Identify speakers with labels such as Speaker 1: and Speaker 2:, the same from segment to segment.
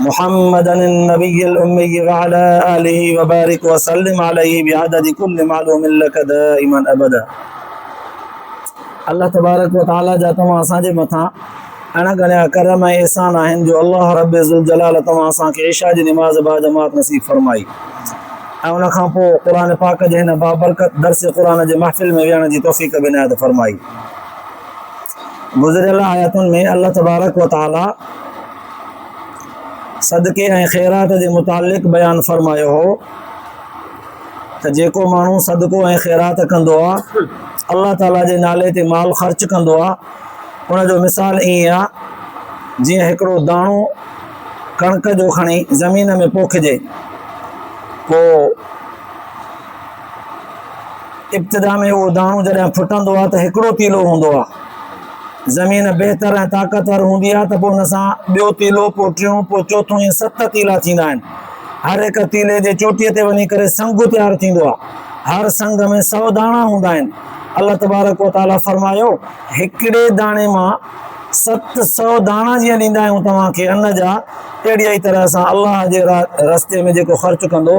Speaker 1: محمدا النبي الامي وعلي اله وبارک وسلم عليه بعدد كل معلوم لك دائما ابدا الله تبارڪ وتعالي جا توهان اسان جي مٿان اڻ ڳڻيا ڪرم ۽ احسان آهن جو الله رب ذوالجلال توهان اسان کي عشاء جي نماز با جماعت نصيب فرمائي ۽ ان کان پوء قرآن پاڪ جي هن بابرڪت درس قرآن جي محفل ۾ ويهڻ جي توفيق به عنايت فرمائي گذريل آياتن ۾ الله تبارڪ وتعالي صدقي ۽ خيرات جي متعلق بيان فرمايو هو ته جيڪو ماڻهو صدقو ۽ خيرات ڪندو آهي الله تعاليٰ جي نالي تي مال خرچ ڪندو آهي ان جو مثال ائين آهي جيئن هڪڙو داڻو ڪڻڪ جو کڻي زمين ۾ پوکجي پوء ابتدا ۾ اهو داڻو جڏهن ڦٽندو آهي ته هڪڙو تيلو هوندو آهي زمين بهتر ۽ طاقتور هوندي آهي ته پوء ان سان ٻيو تيلو پوء ٽيون پوء چوٿون ائين ست تيلا ٿيندا آهن هر هڪ تيلي جي چوٽيء تي وڃي ڪري سنگ تيار ٿيندو آهي هر سنگ ۾ سؤ داڻا هوندا آهن الله تبارڪ و تعاليٰ فرمايو هڪڙي داڻي مان ست سؤ داڻا جيئن ڏيندا آهيون توهان کي ان جا اهڙي ئي طرح سان الله جي رستي ۾ جيڪو خرچ ڪندو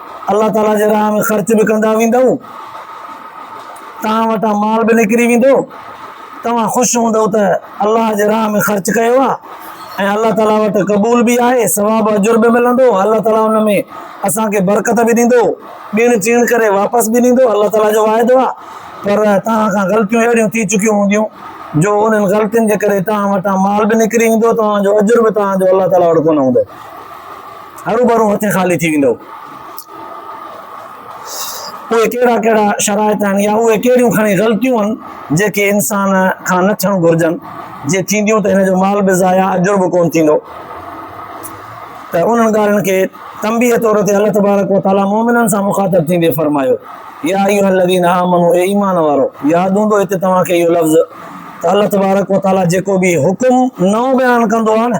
Speaker 1: الله تعاليٰ جي راهه ۾ خرچ به ڪندا ويندؤ، توهان وٽان مال به نڪري ويندو، توهان خوش هوندؤ ته الله جي راهه ۾ خرچ ڪيو آهي ۽ الله تعاليٰ وٽ قبول به آهي، ثواب و اجر به ملندو، الله تعاليٰ ان ۾ اسان کي برڪت به ڏيندو، ڏيڻ چيڻ ڪري واپس به ڏيندو، الله تعاليٰ جو واعدو آهي، پر توهان کان غلطيون اهڙيون ٿي چڪيون هونديون جو انهن غلطين جي ڪري توهان وٽان مال به نڪري ويندو، توهان جو اجر به توهان جو الله تعاليٰ وٽ ڪونه هوندو. هروڀرو هتي خالي ٿي ويندو. اهي ڪهڙا ڪهڙا شرائط آهن يا اهي ڪهڙيون کڻي غلطيون آهن جيڪي انسان کان نه ٿيڻ گهرجن، جي ٿينديون ته هن جو مال به ضايع اجر به ڪونه ٿيندو ته انهن ڳالهين کي تنبيهه طور تي الله تبارڪ وتعالي مؤمنن سان مخاطب ٿيندي فرمايو يا ايها الذين آمنو اي ايمان وارو ياد هوندو هتي توهان کي اهو لفظ ته الله تبارڪ وتعالي جيڪو به حڪم نئون بيان ڪندو آهي نه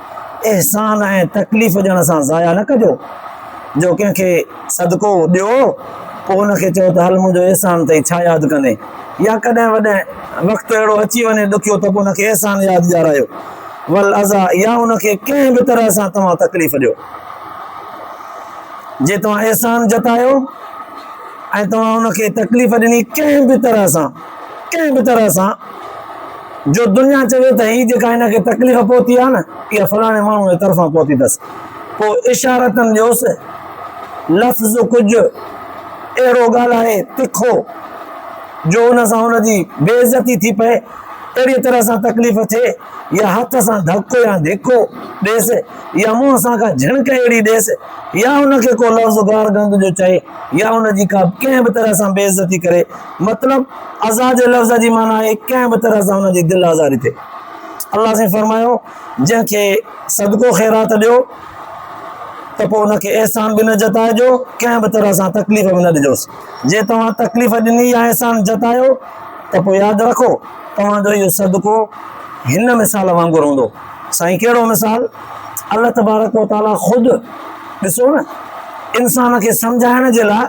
Speaker 1: احسان ۽ تڪليف ڏيڻ سان ضايع نه ڪجو، جو ڪنهن کي صدقو ڏيو، پوء ان کي چئو ته هل منهنجو احسان اٿئي، ڇا ياد ڪندين؟ يا ڪڏهن وڏهن وقت اهڙو اچي وڃي ڏکيو ته پوء ان کي احسان ياد ڏيارايو، والاذا يا ان کي ڪنهن به طرح سان توهان تڪليف ڏيو. جي توهان احسان جتايو ۽ توهان ان کي تڪليف ڏني ڪنهن به طرح سان، ڪنهن به طرح سان جو دنيا چوي ته هي جيڪا هن کي تڪليف پهتي آهي نه اها فلاڻي ماڻهو جي طرفان پهتي اٿس پوء اشارتن ڏيوس لفظ ڪجهه اهڙو ڳالهائي تکو جو ان سان ان جي بي عزتي ٿي پئي اهڙي طرح سان تڪليف ٿئي يا هٿ سان ڌڪو يا ڌڪو ڏيس يا منهن سان ڪا جھڻڪ اهڙي ڏيس يا ان کي ڪو لفظ گار گند جو چئي يا ان جي ڪا ڪنهن به طرح سان بي عزتي ڪري مطلب، ازا جي لفظ جي معنيٰ آهي ڪنهن به طرح سان ان جي دل آزاري ٿئي. الله سائين فرمايو، جنهن کي صدقو خيرات ڏيو ته پوء ان کي احسان به نه جتائجو، ڪنهن به طرح سان تڪليف به نه ڏجوس. جي توهان تڪليف ڏني يا احسان جتايو ته پوء ياد رکو توهان جو اهو صدقو هن مثال وانگر هوندو. سائين ڪهڙو مثال الله تبارڪ و تعالي خود ڏسو نه انسان کي سمجهائڻ جي لاء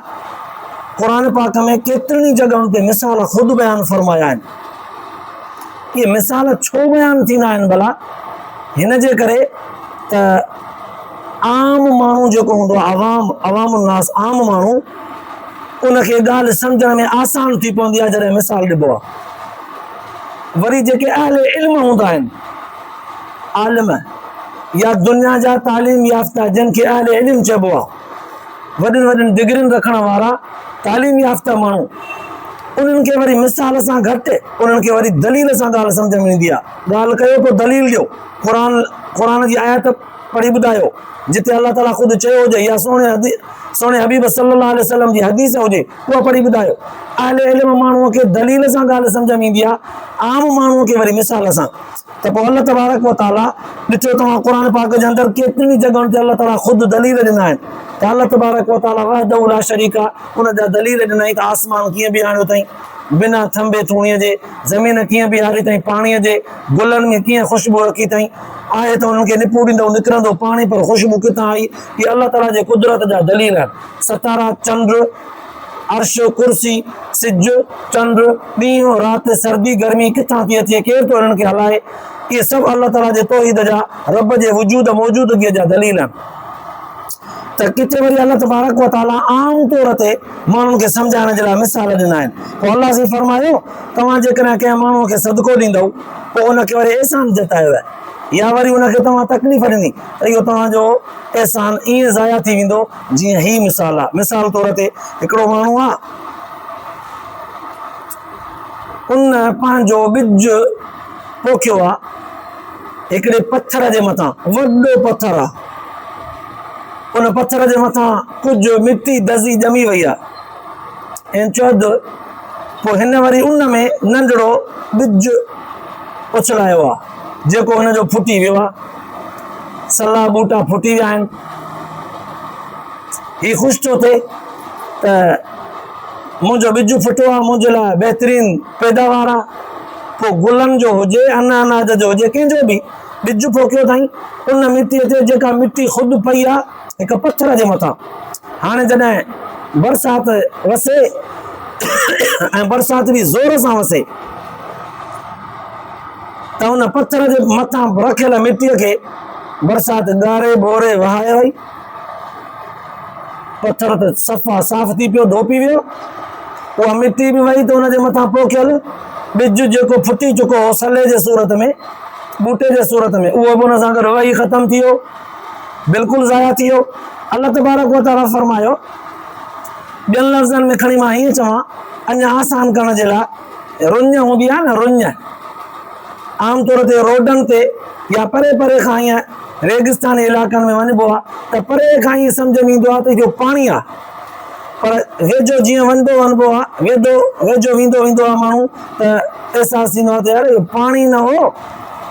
Speaker 1: قرآن پاڪ ۾ ڪيترين ئي جڳهن تي مثال خود بيان فرمايا آهن اهي مثال ڇو بيان ٿيندا آهن ڀلا هن جي ڪري ته عام ماڻهو جيڪو هوندو آهي عوام عوام الناس عام ماڻهو ان کي ڳالهه سمجھڻ ۾ آسان ٿي پوندي آهي جڏهن مثال ڏبو آهي وري جيڪي اهل علم هوندا آهن عالم يا دنيا جا تعليم يافته جن کي اهل علم چئبو آهي وڏين وڏين ڊگرين رکڻ وارا تعليم يافته ماڻهو انهن کي وري مثال سان گهٽ انهن کي وري دليل سان ڳالهه سمجھ ۾ ايندي آهي ڳالهه ڪيو ڪو دليل ڏيو قرآن قرآن جي آيت پڙهي ٻڌايو جتي الله تعالي خود چيو هجي يا سهڻي حبيب صلي الله عليه وسلم جي حديث هجي اها پڙهي ٻڌايو اهل علم ماڻهو کي دليل سان ڳالهه سمجهه ۾ ايندي آهي عام ماڻهو کي وري مثال سان ته پوء الله تبارڪ وتعالي ڏٺو توهان قرآن پاڪ جي اندر ڪيترين جڳهن تي الله تعالي خود دليل ڏنا آهن ته الله تبارڪ وتعالي وحده لا شريڪ ان جا دليل ڏنائين ته آسمان ڪيئن بيهاڻيو اٿئي بنا ٿنڀي ٿوڻي جي زمين ڪيئن بيهاري اٿئي، پاڻيء جي گلن ۾ ڪيئن خوشبو رکي اٿئي، آهي ته انهن کي نپوڙيندو ۽ نڪرندو پاڻي پر خوشبو ڪٿان آئي؟ اهي الله تعاليٰ جي قدرت جا دليل آهن. ستارا، چنڊ، عرش، ڪرسي، سج، چنڊ، ڏينهن، رات، سردي، گرمي ڪٿان ٿي اچي، ڪير ٿو انهن کي هلائي؟ اهي سڀ الله تعاليٰ جي توحيد جا، رب جي وجود، موجودگيء، جا دليل آهن. ته ڪٿي وري الله تبارڪ و تعاليٰ عام طور تي، ماڻهن کي سمجهائڻ جي لاء مثال ڏنا آهن پوء الله سائين فرمايو توهان جيڪڏهن ڪنهن ماڻهوء کي صدقو ڏيندؤ پوء ان کي وري احسان جتايو آهي يا وري ان کي توهان تڪليف ڏني ته اهو توهان جو احسان ائين ضايع ٿي ويندو جيئن هي مثال آهي مثال طور تي هڪڙو ماڻهو آهي ان پنهنجو ٻج پوکيو آهي هڪڙي پٿر جي مٿان وڏو پٿر آهي ان پٿر جي مٿان ڪجهه مٽي دزي ڄمي وئي آ. هن چود پوء هن وري ان ۾ ننڍڙو ٻج اڇلايو آ، جيڪو هن جو ڦٽي ويو آ. سلا ٻوٽا ڦٽي ويا آهن. هي خوش ٿو ٿئي ته منهنجو ٻج ڦٽو آ، منهنجي لاء بهترين پيداوار آ. پوء گلن جو هجي، ان اناج جو هجي، ڪنهن جو به. ٻج پوکيو اٿائين ان مٽيء تي جيڪا مٽي خود پئي آ هڪ پٿر جي مٿان. هاڻي جڏهن برسات وسي ۽ برسات به زور سان وسي ته ان پٿر جي مٿان رکيل مٽيء کي برسات ڳاري ٻوري وهائي وئي. پٿر ته صفا صاف ٿي پيو، ڍوپي ويو. اها مٽي به وئي ته ان جي مٿان پوکيل ٻج جيڪو ڦٽي چڪو هو سلي جي صورت ۾ ٻوٽي جي صورت ۾ اهو به ان سان گڏ وئي ختم ٿي ويو بلڪل ضايع ٿي ويو الله تبارڪ وتعاليٰ فرمايو ٻين لفظن ۾ کڻي مان هيئن چوان اڃا آسان ڪرڻ جي لاء رڃ هوندي آهي نه رڃ عام طور تي روڊن تي يا پري پري کان هيئن ريگستاني علائقن ۾ وڃبو آ ته پري کان ائين سمجهه ۾ ايندو آ ته اهو پاڻي آ پر ويجهو جيئن وڃبو وڃبو آ ويدو ويجهو ويندو ويندو آ ماڻهو ته احساس ٿيندو آ ته يار اهو پاڻي نه هو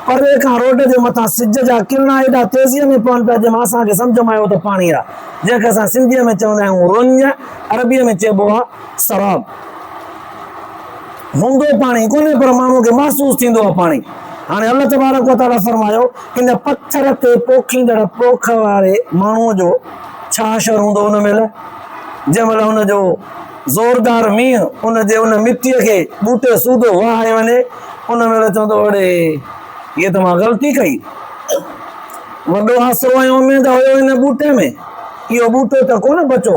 Speaker 1: پري کان روڊ جي مٿان سج جا ڪرڻا ايڏا تيزيء ۾ پون پيا جنهن مان اسان کي سمجهه ۾ آيو ته پاڻي آ جنهن کي اسان سنڌيء ۾ چوندا آهيون رڃ عربيء ۾ چئبو آ سراب هوندو پاڻي ڪونهي پر ماڻهو کي محسوس ٿيندو آ پاڻي هاڻي الله تبارڪ وتعاليٰ فرمايو ان پٿر تي پوکيندڙ پوک واري ماڻهوء جو ڇا حشر هوندو ان مهل، جنهن مهل ان جو زوردار مينهن ان جي ان مٽيء کي ٻوٽي سوڌو وهائي وڃي، ان مهل چوندو اڙي! هيء ته مان غلطي ڪئي. وڏو آسرو ۽ اميد هيو ان ٻوٽي ۾، اهو ٻوٽو ته ڪونه بچو،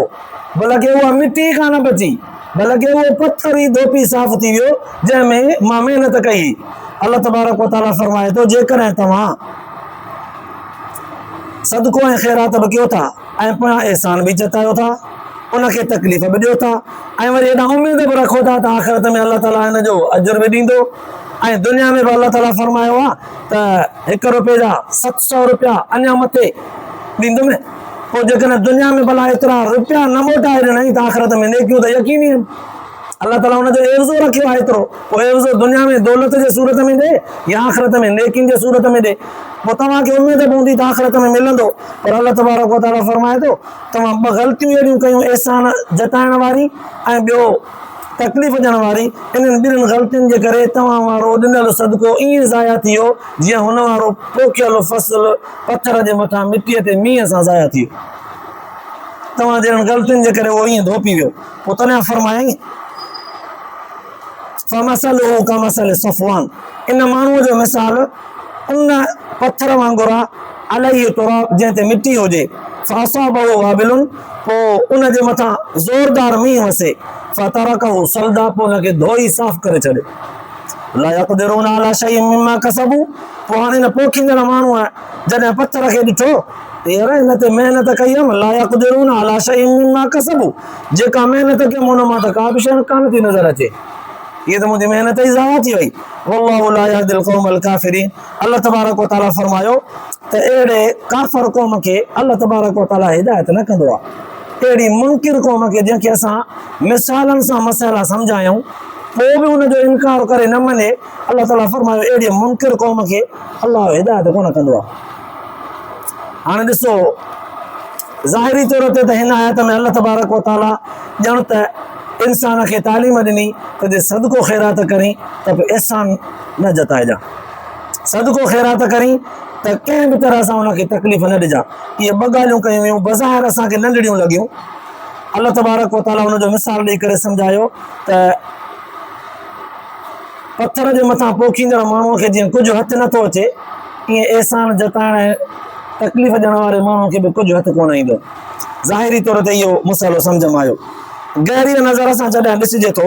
Speaker 1: بلڪ اها مٽي ئي ڪانه بچي. نه لڳي اهو پٿر ئي ڌوپي صاف ٿي ويو جنهن ۾ مان محنت ڪئي هئي. الله تبارڪ و تعاليٰ فرمائي ٿو جيڪڏهن توهان صدقو ۽ خيرات به ڪيو ٿا ۽ پويان احسان به جتايو ٿا، ان کي تڪليف به ڏيو ٿا ۽ وري هيڏانهن اميد به رکو ٿا ته آخرت ۾ الله تعاليٰ ان جو اجر به ڏيندو ۽ دنيا ۾ به الله تعاليٰ فرمايو آهي ته هڪ رپئي جا ست سؤ رپيا اڃا مٿي ڏيندو ۾. پوء جيڪڏهن دنيا ۾ ڀلا ايترا روپيا نه موٽائي ڏنائين ته آخرت ۾ نيڪيون ته يقيني آهن. الله تعاليٰ ان جو عيوضو رکيو آهي ايترو، پوء عيوضو دنيا ۾ دولت جي صورت ۾ ڏي يا آخرت ۾ نيڪين جي صورت ۾ ڏي. پوء توهان کي اميد پوندي ته آخرت ۾ ملندو. پر الله تبارڪ و تعاليٰ فرمائي ٿو، توهان ٻه غلطيون اهڙيون ڪيون احسان جتائڻ واري ۽ ٻيو تڪليف ڏيڻ واري، انهن ٻنهين غلطين جي ڪري توهان وارو ڏنل صدقو ائين ضايع ٿي ويو جيئن هن وارو پوکيل فصل پٿر جي مٿان مٽيء تي مينهن سان ضايع ٿي ويو. توهان جهڙن غلطين جي ڪري اهو ائين ڌوپي ويو. پوء تڏهن فرمايائين، فمثله ڪمثل صفوان، ان ماڻهوء جو مثال ان پٿر وانگر آهي، عليه تراب، جنهن تي مٽي هجي، فاصابه وابل، پوء ان جي مٿان زوردار مينهن وسي، فترڪه صلدا، پوء ان کي ڌوئي صاف ڪري ڇڏي. لا يقدرون علي شيء مما کسبو پوء هاڻي هن پوکيندڙ ماڻهوء جڏهن پٿر کي ڏٺو ته يار هن تي محنت ڪئي هيم لا يقدرون علي شيء مما کسبو جيڪا محنت ڪيم ان مان ته ڪا به شيء ڪانه ٿي نظر اچي هيء ته منهنجي محنت ئي ضايع ٿي وئي والله لا يهدي القوم الڪافرين الله تبارڪ و تعالي فرمايو ته اهڙي ڪافر قوم کي الله تبارڪ و تعالي هدايت نه ڪندو آهي. اهڙي منڪر قوم کي جنهن کي اسان مثالن سان مسئلا سمجهايائون پوء به ان جو انڪار ڪري نه مڃي الله تعالي فرمايو اهڙي منڪر قوم کي الله هدايت ڪونه ڪندو آهي. هاڻي ڏسو ظاهري طور تي ته هن آيت ۾ الله تبارڪ و تعالي ڄڻ ته انسان کي تعليم ڏني ته جي صدقو خيرات ڪرين ته به احسان نه جتائجان. صدقو خيرات ڪرين ته ڪنهن به طرح سان ان کي تڪليف نه ڏجان. اهي ٻه ڳالهيون ڪيون ويون، بظاهر اسان کي ننڍڙيون لڳيون. الله تبارڪ و تعاليٰ ان جو مثال ڏيئي ڪري سمجهايو ته پٿر جي مٿان پوکيندڙ ماڻهوء کي جيئن ڪجهه هٿ نٿو اچي، ايئن احسان جتائڻ ۽ تڪليف ڏيڻ واري ماڻهوء کي به ڪجهه هٿ ڪونه ايندو. ظاهري طور تي اهو مسئلو سمجهه ۾ آيو. گهريء نظر سان جڏهن ڏسجي ٿو،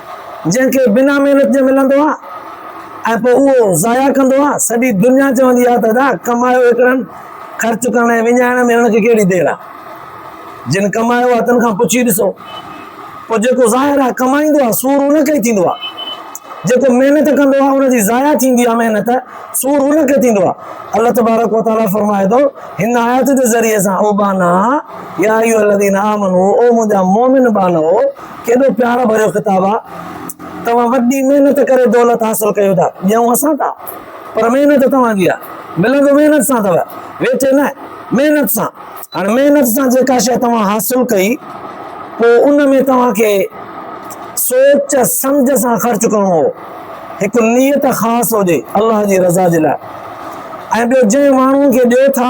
Speaker 1: جنهن کي بنا محنت جي ملندو آ ۽ پوء اهو ضايع ڪندو آ، سڄي دنيا چوندي آ ته ادا ڪمايو ايترن خرچ ڪرڻ ۽ وڃائڻ ۾ هن کي ڪهڙي دير آ، جن ڪمايو آ تن کان پڇي ڏسو. پوء جيڪو ظاهر آ ڪمائيندو آ سور ان کي ئي ٿيندو آ، جيڪو محنت ڪندو آ ان جي ضايع ٿيندي آ محنت، سور ان کي ٿيندو آ. الله تبارڪ و تعاليٰ فرمائي ٿو هن آيت جي ذريعي سان او ٻانها يا ايها الذين آمنوا او منهنجا مؤمن ٻانهو! ڪيڏو پيار ڀريو خطاب آ. توهان وڏي محنت ڪري دولت حاصل ڪيو ٿا. ڏيون اسان ٿا پر محنت توهان جي آ. ملندو محنت سان اٿو. ويٺي نه، محنت سان. هاڻي محنت سان جيڪا شيء توهان حاصل ڪئي پوء ان ۾ توهان کي سوچ سمجهه سان خرچ ڪرڻو هو. هڪ نيت خاص هجي الله جي رضا جي لاء ۽ ٻيو جنهن ماڻهوء کي ڏيو ٿا،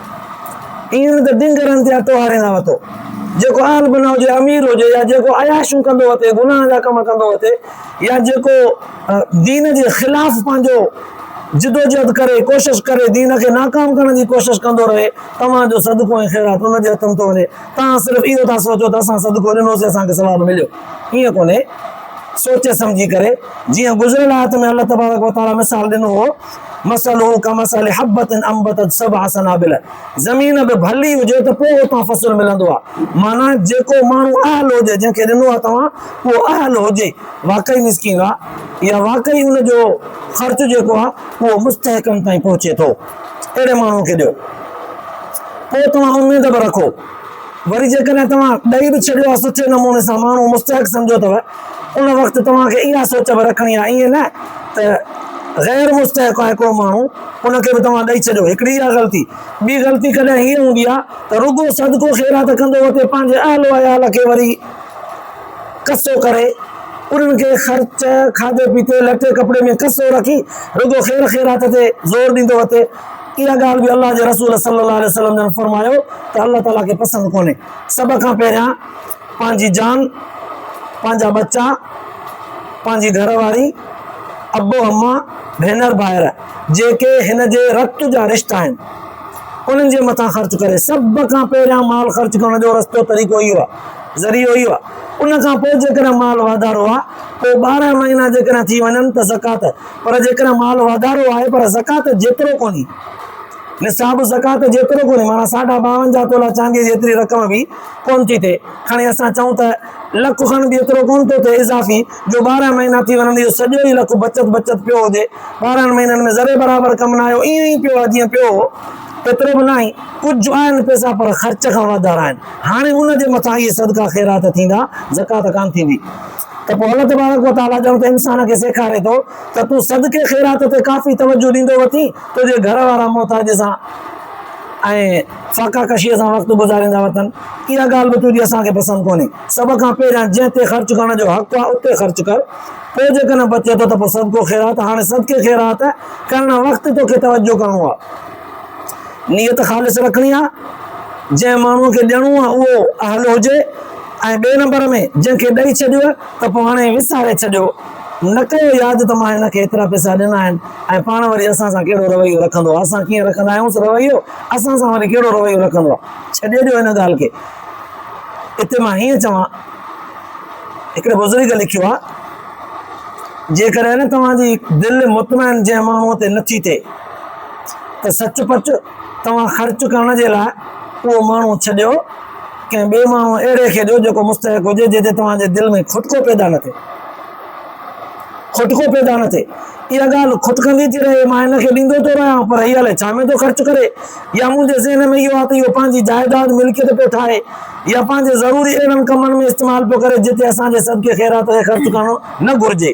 Speaker 1: ايئن نه ته ڊنگر هنڌ يا ٽوهاري نه وتو. جيڪو اهل بنا هجي، امير هجي يا جيڪو عياشيون ڪندو وتي، گناهه جا ڪم ڪندو وتي يا جيڪو دين جي خلاف پنهنجو جدوجهد ڪري، ڪوشش ڪري، دين کي ناڪام ڪرڻ جي ڪوشش ڪندو رهي، توهان جو صدقو ۽ خيرات ان جي هٿن ٿو وڃي. توهان صرف اهو ٿا سوچو ته اسان صدقو ڏنوسين، اسان کي ثواب مليو. ايئن ڪونهي. سوچي سمجهي ڪري، جيئن گذريل آيت ۾ الله تبارڪ وتعاليٰ مثال ڏنو هو، مثله ڪمثل حبة انبتت سبع سنابل زمين به ڀلي هجي ته پوء اتان فصل ملندو آ معنيٰ جيڪو ماڻهو اهل هجي جنهن کي ڏنو آ توهان اهو اهل هجي واقعي مسڪين آ يا واقعي ان جو خرچ جيڪو آ اهو مستحقن تائين پهچي ٿو اهڙي ماڻهوء کي ڏيو پوء توهان اميد به رکو وري جيڪڏهن توهان ڏئي به ڇڏيو آهي سٺي نموني سان ماڻهو مستحق سمجهيو اٿو ان وقت توهان کي اها سوچ به رکڻي آهي ائين نه ته غير مستحق آهي ڪو ماڻهو ان کي به توهان ڏئي ڇڏيو هڪڙي اها غلطي ٻي غلطي ڪڏهن هيء هوندي آهي ته رڳو صدقو خيرات ڪندو وتي پنهنجي اهل و عيال کي وري قصو ڪري انهن کي خرچ کاڌي پيتي لٽي ڪپڙي ۾ قصو رکي رڳو خير خيرات تي زور ڏيندو وتي اها ڳالهه به الله جي رسول صلي الله عليه وسلم جن فرمايو ته الله تعاليٰ کي پسند ڪونهي سڀ کان پهريان پنهنجي جان پنهنجا ٻچا پنهنجي گهر واري ابو اما ڀينر ڀائر جيڪي هن جي رت جا رشتا آهن انهن جي مٿان خرچ ڪري سڀ کان پهريان مال خرچ ڪرڻ جو رستو طريقو اهو آهي ذريعو اهو آهي ان کان پوء جيڪڏهن مال واڌارو آهي پوء ٻارهن مهينا جيڪڏهن ٿي وڃن ته زڪوات پر جيڪڏهن مال واڌارو آهي پر زڪوات جيترو ڪونهي، نصاب زڪوات جيترو ڪونهي، معنيٰ ساڍا ٻاونجاهه تولا چانديء جيتري رقم به ڪونه ٿي ٿئي، کڻي اسان چئون ته لک کن به ايترو ڪونه ٿو ٿئي اضافي، جو ٻارهن مهينا ٿي وڃن ته اهو سڄو ئي لک بچت بچت پيو هجي، ٻارهن مهينن ۾ ذري برابر ڪم نه آيو، ائين ئي پيو آهي جيئن پيو هو، ايترو به ناهي، ڪجهه آهن پئسا پر خرچ کان واڌارا آهن، هاڻي ان جي مٿان اهي صدقا خيرات ٿيندا، زڪوات ڪانه ٿيندي. ته پوء الله تبارڪ و تعاليٰ ڄڻ ته انسان کي سيکاري ٿو ته تون صدقي خيرات تي ڪافي توجهه ڏيندو وتين، تنهنجي گهر وارا محتاج سان ۽ فاقه ڪشيء سان وقت گذاريندا وتن. اها ڳالهه به تنهنجي اسان کي پسند ڪونهي. سڀ کان پهريان جنهن تي خرچ ڪرڻ جو حق آهي اتي خرچ ڪر، پوء جيڪڏهن بچي ٿو ته پوء صدقو خيرات. هاڻي صدقي خيرات ڪرڻ وقت توکي توجهه ڪرڻو آهي. نيت خالص رکڻي آهي. جنهن ماڻهوء کي ڏيڻو آهي اهو اهل هجي. ۽ ٻئي نمبر ۾ جنهن کي ڏئي ڇڏيو ته پوء هاڻي وساري ڇڏيو، نه ڪيو ياد ته مان هن کي ايترا پئسا ڏنا آهن ۽ پاڻ وري اسان سان ڪهڙو رويو رکندو آهي، اسان ڪيئن رکندا آهيونس رويو، اسان سان وري ڪهڙو رويو رکندو آهي، ڇڏي ڏيو هن ڳالهه کي. اتي مان هيئن چوان، هڪڙي بزرگ لکيو آهي، جيڪڏهن نه توهان جي دل مطمئن جنهن ماڻهوء تي نٿي ٿئي ته سچ پچ توهان خرچ ڪرڻ جي لاء اهو ماڻهو ڇڏيو، ڪنهن ٻئي ماڻهو اهڙي کي ڏيو جيڪو مستحق هجي جنهن تي توهان جي دل ۾ کٽڪو پيدا نه ٿئي. کٽڪو پيدا نه ٿئي. اها ڳالهه کٽڪندي ٿي رهي، مان هن کي ڏيندو ٿو رهيان پر هي الائي ڇا ۾ ٿو خرچ ڪري يا منهنجي ذهن ۾ اهو آهي ته اهو پنهنجي جائيداد، ملڪيت، پيو ٺاهي يا پنهنجي ضروري اهڙن ڪمن ۾ استعمال پيو ڪري جتي اسان جي صدقي خيرات کي خرچ ڪرڻ نه گهرجي.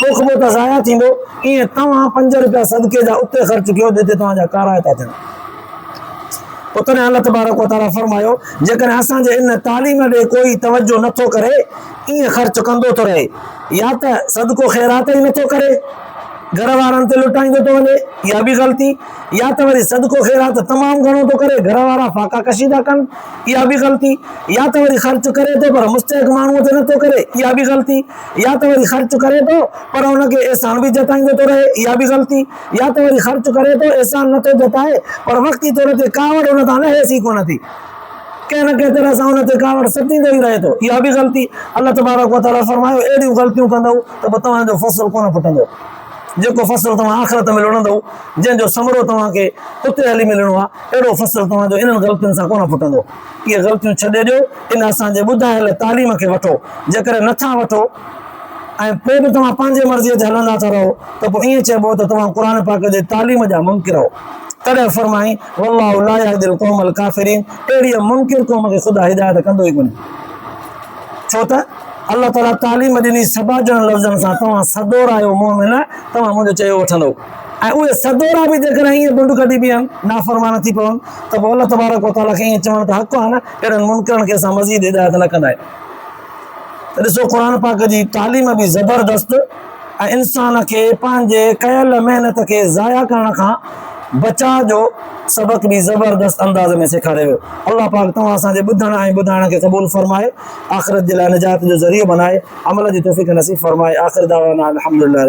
Speaker 1: توکبو ته ضايع ٿيندو، ايئن توهان پنج رپيا صدقي جا اتي خرچ ڪيو جتي توهان جا ڪارائي ٿا ٿين. پوء تڏهن الله تبارڪ و تعاليٰ فرمايو، جيڪڏهن اسان جي ان تعليم ڏي ڪوئي توجهه نه ٿو ڪري، ايئن خرچ ڪندو ٿو رهي، يا ته صدقو خيرات ئي نه ٿو ڪري، گهر وارن تي لٽائيندو ٿو وڃي، اها به غلطي، يا ته وري صدقو خيرات تمام گهڻو ٿو ڪري، گهر وارا فاقا ڪشي ٿا ڪن، اها به غلطي، يا ته وري خرچ ڪري ٿو پر مستحق ماڻهوء تي نه ٿو ڪري، اها به غلطي. يا ته وري خرچ ڪري ٿو پر ان کي احسان به جتائيندو ٿو رهي اها به غلطي يا ته وري خرچ ڪري ٿو احسان نه ٿو جتائي پر وقتي طور تي ڪاوڙ ان تان لهيس ئي ڪونه ٿي ڪنهن نه ڪنهن طرح سان ان تي ڪاوڙ ستيندو ئي رهي ٿو اها به غلطي الله تبارڪ وتعالي فرمايو اهڙيون غلطيون ڪندؤ ته پوء توهان جو فصل ڪونه ڦٽندو جيڪو فصل توهان آخرت ۾ لڻندؤ جنهن جو ثمرو توهان کي اتي هلي ملڻو آهي اهڙو فصل توهان جو انهن غلطين سان ڪونه ڦٽندو اهي غلطيون ڇڏي ڏيو ان اسان جي ٻڌايل تعليم کي وٺو جيڪڏهن نه ٿا وٺو ۽ پوء به توهان پنهنجي مرضي تي هلندا ٿا رهو ته پوء ائين چئبو ته توهان قرآن پاڪ جي تعليم جا منڪر هئو تڏهن فرمائين والله لا يهدي القوم الڪافرين اهڙيء منڪر قوم کي خدا هدايت ڪندو ئي ڪونهي ڇو ته الله تعاليٰ تعليم ڏني سڀا ڄڻن لفظن سان توهان سدور آهيو مؤمن توهان منهنجو چيو وٺندو ۽ اهي سڳورا به جيڪڏهن ائين بنڊ ڪڍي بيهن، نافرمان ٿي پون، ته پوء الله تبارڪ و تعاليٰ کي ائين چوڻ ته حق آهي نه، اهڙن منڪرن کي اسان مزيد هدايت نه ڪندايون. ته ڏسو قرآن پاڪ جي تعليم به زبردست ۽ انسان کي پنهنجي ڪيل محنت کي ضايع ڪرڻ کان بچاء جو سبق به زبردست انداز ۾ سيکاري ويو. الله پاڪ توهان اسان جي ٻڌڻ ۽ ٻڌائڻ کي قبول فرمائي، آخرت جي لاء نجات جو ذريعو بنائي، عمل جي توفيق نصيب فرمائي، آخر دعوانا ان الحمدلله رب.